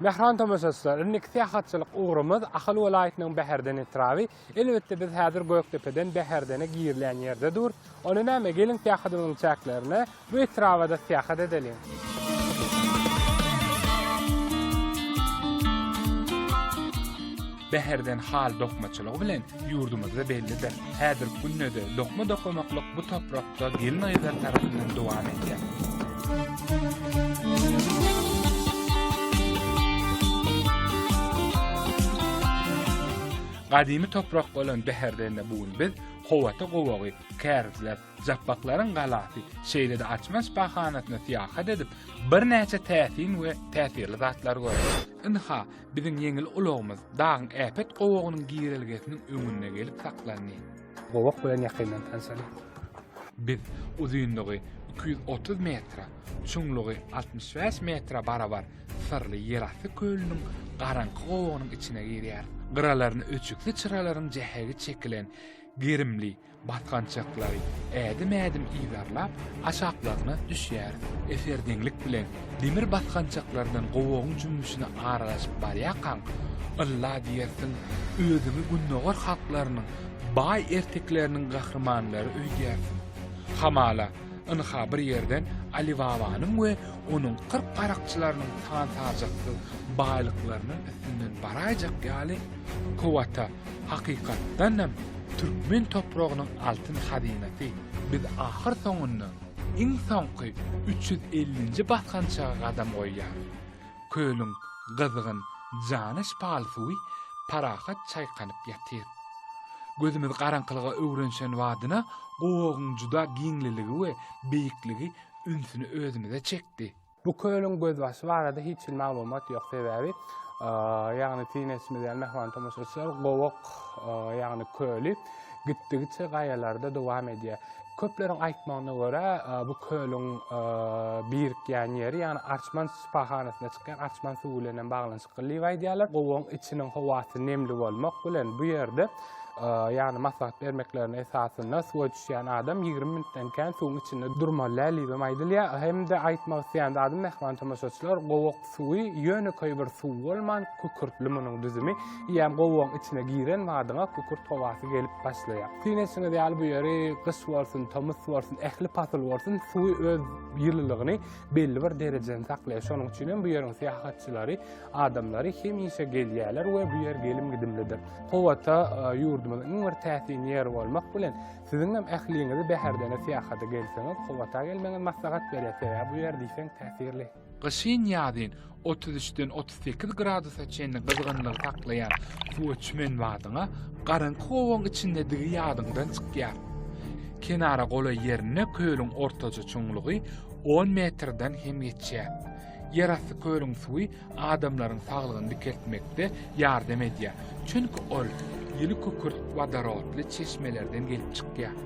Mähriban tomaşaçylar, indiki syýahatçylyk ugrumyz Ahal welaýatynyň Bäherden etraby. Elbetde, biz häzir Gökdepeden Bäherdene girilýän ýerde dur. Onda näme, geliň syýahatymyzyň çäklerine, bu etraba-da syýahat edeliň. Bäherden hal dokmaçylygy bilen Ýurdumyzda bellidir, häzirki günde-de dokma dokamaklyk bu toprakda gelin-gyzlar tarapyndan dowam edýär. Gadymy toprak bolan Bäherdende bu gün biz Howata gowagy, Kärizler, Japbaklaryň galasy, şeýle-de Açmaç bahanasyna syýahat edip, birnäçe täsin we täsirli zatlary görýäris. Ynha, Biziň ýeňil ulagymyz dagyň äpet gowagynyň girelgesiniň öňünde gelip saklandy. Gowak bilen ýakyndan tanşalyň. Biz uzynlygy iki ýüz otuz metre, çuňlugy altmyş bäş metre barabar syrly ýerasty kölüniň garaňky gowagynyň içine girýäris. Gyralaryny öçükli çyralaryň jähegi çekilen gerimli, Basgançaklary ädim-ädim yzarlap, aşaklaryna düşýär. Eserdeňlik bilen demir basgançaklardan gowagyň jümmüşine aralaşyp barýarkaň, ylla diýersiň, özüňi gündogar halklarynyň baý ertekleriniň gahrymanlary öýdýärsiň. Hamala, ynha bir ýerden Alibabanyň we onuň kyrk garakçylarynyň san-sajaksyz baýlyklarynyn üstünden baraýjak ýaly kowata Hakykatdan hem türkmen topragynyň altyn hazynasy biz ahyr soňunda iň soňky üç ýüz ellinji basgançaga gadam goýýarys. Kölüň gyzgyn, jana şypaly suwy parahat çaýkanyp ýatyr. Gözümiz garaňkylyga öwrenişen badyna gowagyň juda giňliligi we beýikligi ünsüni özümize çekdi. Bu kölüň gözbaşy barada hiç hili maglumat ýok, sebäbi, ýagny synanyşymyz ýaly mähriban tomaşaçylar, Gowak, ýagny köli gitdigiçe gaýalarda dowam edýär. Köpleriň aýtmagyna görä, bu kölüň birikýän ýeri, ýagny Arçman şypahanasynda çykýan arçman suwy bilen hem baglanyşykly diýip aýdýarlar. Gowagyň içiniň howasy nemli bolmak bilen, bu ýerde, ýagny maslahat bermeklerine esasynda, suwa Düşýän adam ýigrimi minutdan kän suwuň içinde durmaly däl diýibem aýdylýar. Hem-de aýtmak isleýän zadym, mähriban tomaşaçylar, gowak suwy ýönekeý bir suw bolman, kükürtli munuň düzümi. Eýýäm gowagyň içine giren badyňa kükürt howasy gelip başlaýar. Syn etişiňiz ýaly bu ýeri gyş bolsun, tomus bolsun, ähli pasyl bolsun, suwy öz ýylylygyny belli bir derejede saklaýar. Şonuň üçinem bu ýeriň syýahatçylary Adamlary hemişe gelýärler we bu ýer gelim-gidimlidir. Kowata ýurdumyzyň iň bir täsin ýeri bolmak bilen, siziň hem ähliňizi bäherdene syýahata gelseňiz, Kowata gelmegiňiz maslahat berýär, sebäbi bu ýer diýseň täsirli. Gyşyn-ýazyn otuz üçden otuz sekiz gradusa çenli gyzgynlygy saklaýan suwa çümen badyňa garaňky gowaň içindedigi ýadyňdan çykýar. Kenara golaý ýerinde kölüň ortaja çuňlugy on metrden hem geçýär. Ýerasty kölüň suwy adamlaryň saglygyny dikeltmekde ýardam edýär, çünki ol ýyly kükürt wodorodly çeşmelerden gelip çykýar.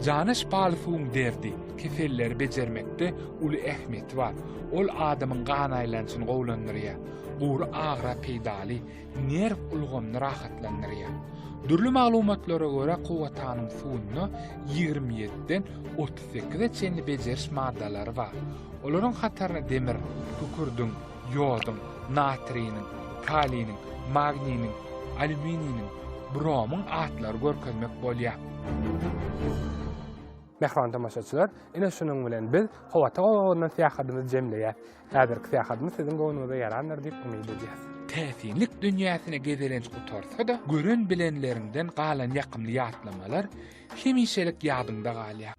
Jana şypaly suwuň derdi, keselleri bejermekde uly ähmiýeti bar. Ol adamyň gan aýlanyşyny gowulandyrýar, gury agyra peýdaly. nerw ulgamyny rahatlandyrýar. Dürli maglumatlara görä, kowatanyň suwunda ýigrimi ýediden otuz sekize çenli bejeriş maddalary bar. Olaryň hataryna demir, kükürdiň, ýoduň, natriniň, kaliniň, magniniň, alýumininiň, bromyň atlary görkezmek bolýar. Mähriban tomaşaçylar, ine şunuň bilen biz Kowata obagyna syýahadymyzy jemleýäs. Häzirki syýahatymyz siziň göwnüňize ýarandyr diýip umyt edýäs. Täsinlik dünýäsine gezelenç gutarsa-da, gören-bilenleriňden galan ýakymly ýatlamalar hemişelik ýadyňda galýar.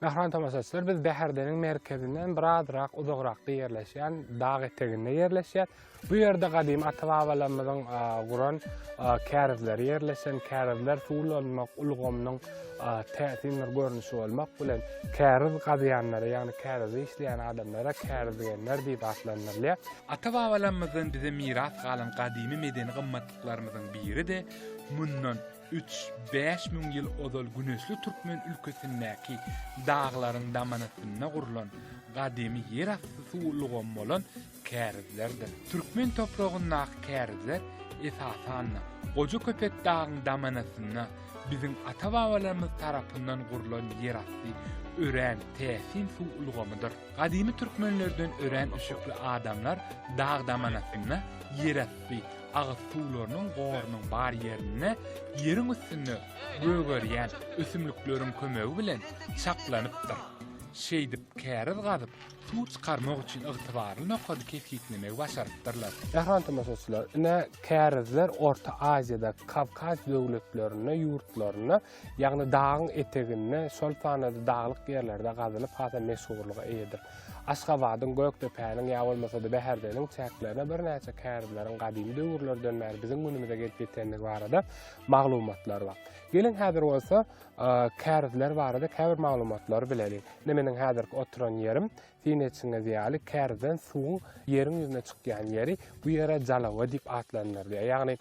Mähriban tomaşaçylar, biz Bäherdeniň merkezinden birazrak uzagrakda ýerleşýän dag eteginde ýerleşýär. Bu ýerde gadymy ata-babalarymyzyň guran kärizleri ýerleşen, kärizler suw ulanmak ulgamynyň täsin bir görnüşi bolmak bilen, käriz gazýanlara, ýagny kärizi işleýän adamlara kärizgenler diýip atlandyrylýar. Ata-babalarymyzdan bize miras galan gadymy medeni gymmatlyklarymyzyň biri-de mundan Üç, bäş müň ýyl ozal güneşli türkmen ülkesindäki daglaryň damanasynda gurlan gadymy ýer asty suw ulgamy bolan kärizlerdir. Türkmen topragyndaky kärizler esasan-da Gojaköpek dagyň damanasynda biziň ata-babalarymyz tarapyndan gurlan ýer asty örän täsin suw ulgamydyr. Gadymy türkmenlerden örän üşükli adamlar dag damanasynda ýer asty Agyz suwlarynyň gorunyň bar ýerinde ýeriň üstünde gögerýän ösümlikleriň kömegi bilen çaklanypdyr. Şeýdip käriz gazyp, suw çykarmak üçin ygtybarly nokady kesgitlemegi başarypdyrlar. Mähriban tomaşaçylar, ine, kärizler Orta Aziýadaky Kawkaz döwletlerinde ýurtlarynda Ýagny dagyň eteginde, şol sanda-da daglyk ýerlerde gazylyp has-a meşhurlyga eýedir. Aşgabadyň, Gökdepäniň ýa bolmasa-da Bäherdeniň çäklerine birnäçe kärileriň gadymy döwürlerden bäri biziň günümize gelip ýetendigi barada maglumatlar bar. Geliň häzir bolsa kärizler barada käbir maglumatlary bileliň. Ine meniň häzirki oturan ýerim, siziň eşidiňiz ýaly kärizden suwuň ýeriň ýüzüne çykýan ýeri, bu ýere Jalawa diýip atlandyrylýar. Ýagny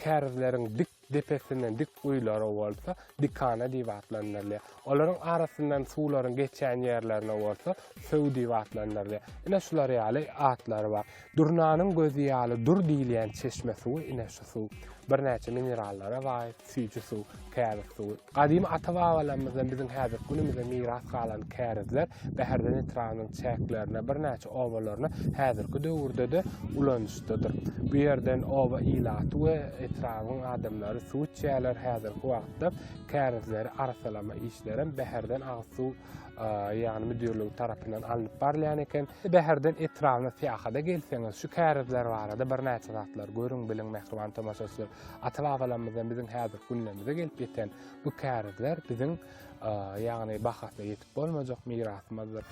kärizleriň dik Depesinden dik guýular bolsa dikana diýip atlandyrylýar. Olaryň arasyndan suwlaryň geçýän ýerlerine bolsa söw diýip atlandyrylýar. Ine şular ýaly atlary bar. Durnanyň gözi ýaly dur diýilýän çeşme suwy ine şu suw. Birnäçe minerallara baý süýji suw, käbik suwy. Gadymy ata-babalarymyzdan biziň häzirki günümize miras galan kärizler Bäherden etrabynyň çäklerine, birnäçe obalaryna häzirki döwürde-de ulanyşdadyr. Bu ýerden oba ilaty we etrabyň adamlary suw içýärler, häzirki wagtda kärizleri arassalama işlerem Bäherden agyz suw ýagny müdirligi tarapyndan alnyp barylýan eken. Bäherden etrabyna syýahada gelseňiz, şu kärizler barada birnäçe zatlar görüň, biliň, mähriban tomaşaçylar. Ata-babalarymyzdan biziň häzirki günlerimize gelip ýeten bu kärizler biziň, ýagny bahasyna ýetip bolmajak mirasymyzdyr.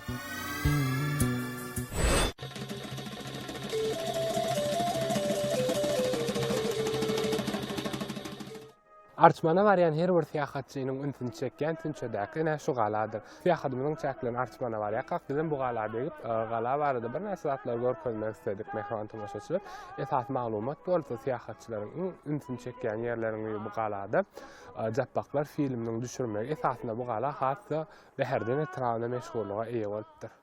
Arçmana barýan her bir syýahatçynyň ünsüni çekýän tünçedäki ene şu galadyr. Syýahatymyzyň çäklerini artmana barýarkak, bizem bu gala degip, gala barada birnäçe zatlary görkezmek isledik, mähriban tomaşaçylar. Esasy maglumat bolsa, syýahatçylaryň iň ünsüni çekýän ýerleriň biri bu galada Japbaklar filminiň düşürilmegi esasynda bu gala has-da bäherden etrabynda meşhurlyga eýe bolupdyr.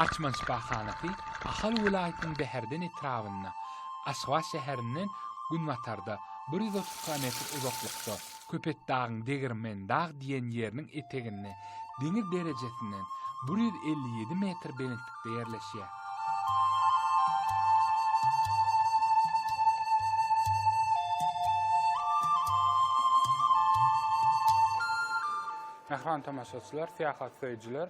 Açman şypahanasy Ahal welaýatynyň Bäherden etrabynda, Aşgabat şäherinden günbatarda bir ýüz otuz kilometr uzaklykda, Köpetdagyň Degirmendag diýen ýeriniň eteginde deňiz derejesinden bir ýüz elli ýedi metr belentlikde ýerleşýär. Mähriban tomaşaçylar, syýahat söýüjiler!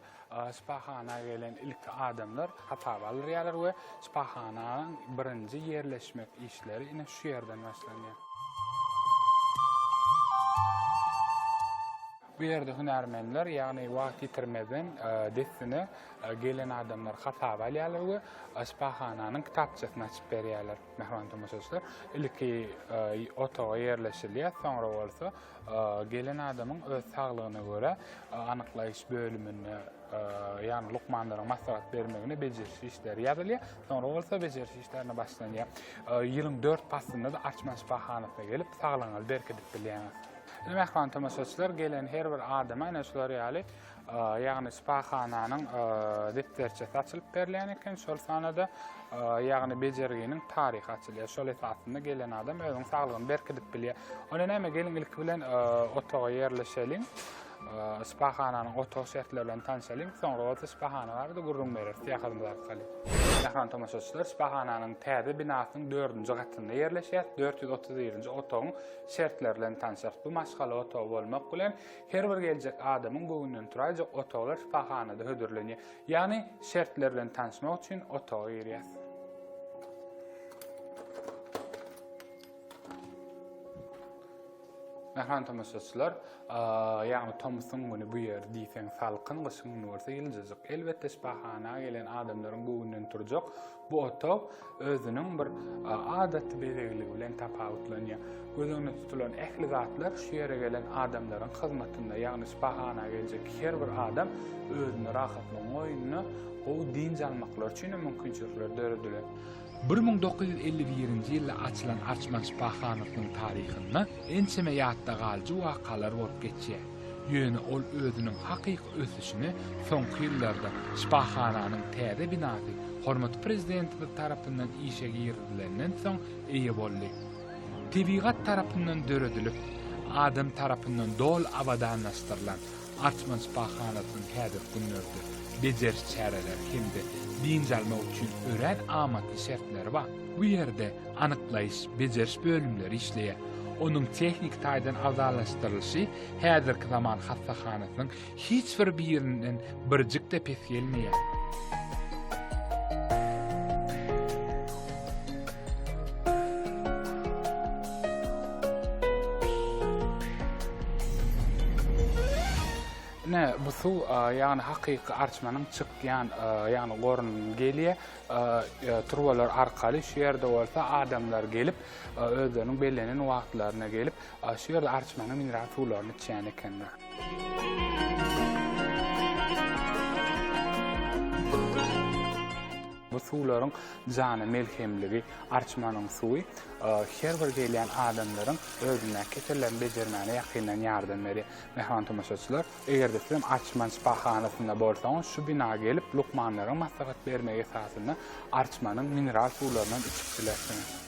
Şypahana gelen ilki adamlar hasaba alyrýarlar we şypahananyň birinji ýerleşmek işleri ine şu ýerden başlanýar. Bu ýerde hünärmenler, ýagny wagt ýitirmezden dessine gelen adamlary hasaba alýarlar we şypahananyň kitapçasyny açyp berýärler. Mähriban tomaşaçylar, ilki otaga ýerleşilýär, soňra bolsa Gelen adamyň öz saglygyna görä anyklaýyş bölüminde, ýagny lukmanlaryň maslahat bermegine bejeriş işleri ýazylýar. Soňra bolsa bejeriş işlerine başlanýar. Ýylyň dört paslynda-da Arçman şypahanasyna gelip, saglygyňyzy berkidip bilýäňiz. Mähriban tomaşaçylar, gelen her bir adama ine şular ýaly ýagny şypahananyň depderçesi açylyp berilýän eken, şol sanada ýagny bejerginiň taryhy açylýar. Şol esasynda gelen adam özüniň saglygyny berkidip bilýär. Onda näme, geliň ilki bilen otaga ýerleşeliň. Şypahananyň otag şertleri bilen tanşalyň. Soňra bolsa şypahana barada gürrüň bereris. Syýahatymyzy alyp galyň. Mähriban tomaşaçylar, şypahananyň täze binasynyň dördünji gatynda ýerleşýär. Dört ýüz otuz birinji otagyň şertleri bilen tanşarys. Bu maşgala otagy bolmak bilen, Her bir geljek adamyň göwünden turaýjak otaglar şypahanada hödürlenýär. Ýagny şertler bilen tanşmak üçin otaga girýäs. Mähriban tomaşaçylar, ýagny tomusyň güni bu ýer diýseň salkyn, gyşyň güni bolsa ýyljajyk. Elbetde şypahana gelen adamlaryň göwünden turjak Bu otag özüniň bir adaty bezegligi bilen tapawutlanýar. Göz öňünde tutulan ähli zatlar şu ýere gelen adamlaryň hyzmatynda, ýagny şypahana geljek her bir adam özüne rahatlygyň goýnunda gowy dynç almaklary üçin hem mümkinçilikler döredilen. Bir müň dokuz ýüz elli birinji ýylda açylan Arçman şypahanasynyň taryhynda ençeme ýatda galyjy wakalar bolup geçýär. Ýöne ol özüniň hakyky ösüşini soňky ýyllarda şypahananyň täze binasy hormatly Prezidentimiz tarapyndan işe girizilenden soň eýe boldy. Tebigat tarapyndan döredilip, adam tarapyndan doly abadanlaşdyrylan Arçman şypahanasynyň häzirki günlerde bejeriş çäreleri hem-de dynç almak üçin örän amatly şertleri bar. Bu ýerde anyklaýyş, bejeriş bölümleri işleýär. Onuň tehniki taýdan abzalaşdyrylyşy häzirki zaman hassahanasynyň hiç bir birinden birjik-de pes gelmeýär. Ine, bu suw, ýagny hakyky arçmanyň çykýan, ýagny gorundan gelýär. turbalar arkaly şu ýerde bolsa adamlar gelip, özleriniň bellenen wagtlaryna gelip, şu ýerde arçmanyň mineral suwlaryny içýän ekenler. Bu suwlaryň jana melhemligi, arçmanyň suwy her bir gelýän adamlaryň özündäki kesellerini bejermäne ýakyndan ýardam berýär. Mähriban tomaşaçylar, Eger-de sizem Arçman şypahanasynda bolsaňyz, şu bina gelip, lukmanlaryň maslahat bermegi esasynda Arçmanyň mineral suwlaryndan içip bilersiňiz.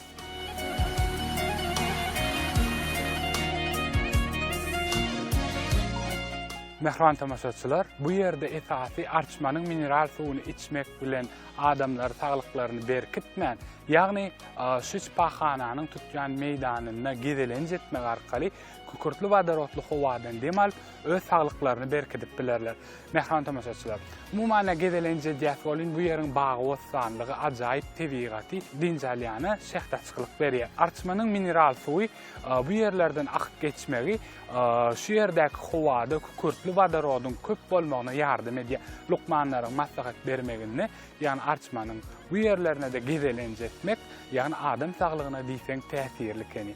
Mähriban tomaşaçylar, bu ýerde esasy Arçmanyň mineral suwuny içmek bilen adamlar saglyklaryny berkitmän, ýagny şu şypahananyň tutýan meýdanynda gezelenç etmek arkaly, kükürtli wodorodly howadan dem alyp, öz saglyklaryny berkidip bilerler. Mähriban tomaşaçylar, umuman-da gezelenç edýäs welin, bu ýeriň bagy-bossanlygy, ajaýyp tebigaty dynç alýana şähdaçylyk berýär. Arçmanyň mineral suwy bu ýerlerden akyp geçmegi şu ýerdäki howada kükürtli wodorodyň köp bolmagyna ýardam edýär. Lukmanlaryň maslahat bermeginde Ýagny arçmanyň bu ýerlerine-de gezelenç etmek, ýagny adam saglygyna diýseň täsirli ekeni.